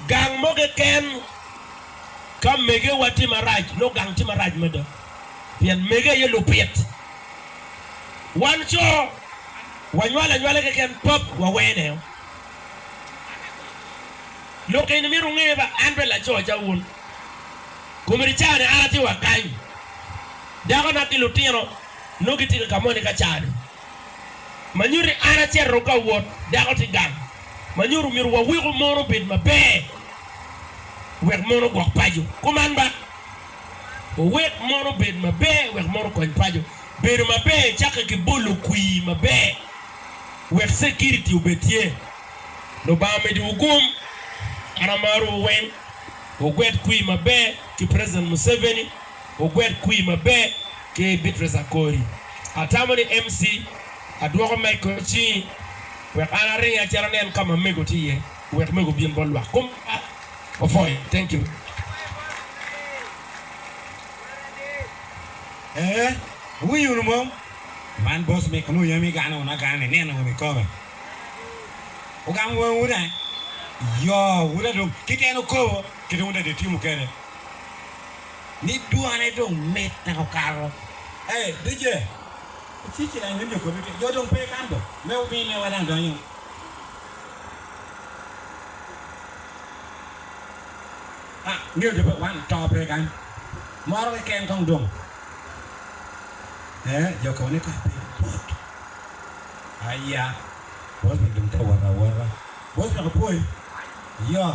Gang mo keken ka megewa tye marac, nongo gang tye marac mada pien mege aye lupit. Wan co wanywalo anywala keken pap wawene o. Lok eni myero wunge ba an pe laco acalo wun. Komedi caa-ni an atye wa kany, dakona ki lutino nongo gitye ka ka moni ka caa-ni. ma nyuto ni an acito dong ka wot, dako tye gang, ma nyuto myero waweko mon obed maber wek mon ogwok paco. Kuman ba, wuwek mon obed maber wek mon okony paco. Bedo maber cakke ki bolo kwir maber wek security obed tye. Lubanga mediwu gum. An amarowu weng. Wugwet kwir maber ki President Museveni. Ogwet kwir maber ki Beatrice Akori. Atamo ni MC adwoko mic kor cingi wek an aringi acel anen ka ma mego tye iye wek mego obin bot lwak kuma opwoyo. Thank you. Ee, wuwinyo wunu mom? Man boss Mick Luyo ema igano wunu agana ni nino wunu ikobe. Wugamo wangwu dai. Yoo, wuda dong keken okobo kit wunda dong itimo kede. ni dwane dong mit tek okato. Hey DJ icik ci dany windio kodi tye. Jo dong pe kan dong. Me wubin ne wa dang donyo. Ah ngeyo jo pe wan to pe kan. Moro keken kong dong. Eh jo kobo ni kor piny bot. Aya. Bosman dong tye wot awota. Bosman opwoyi. Yoh.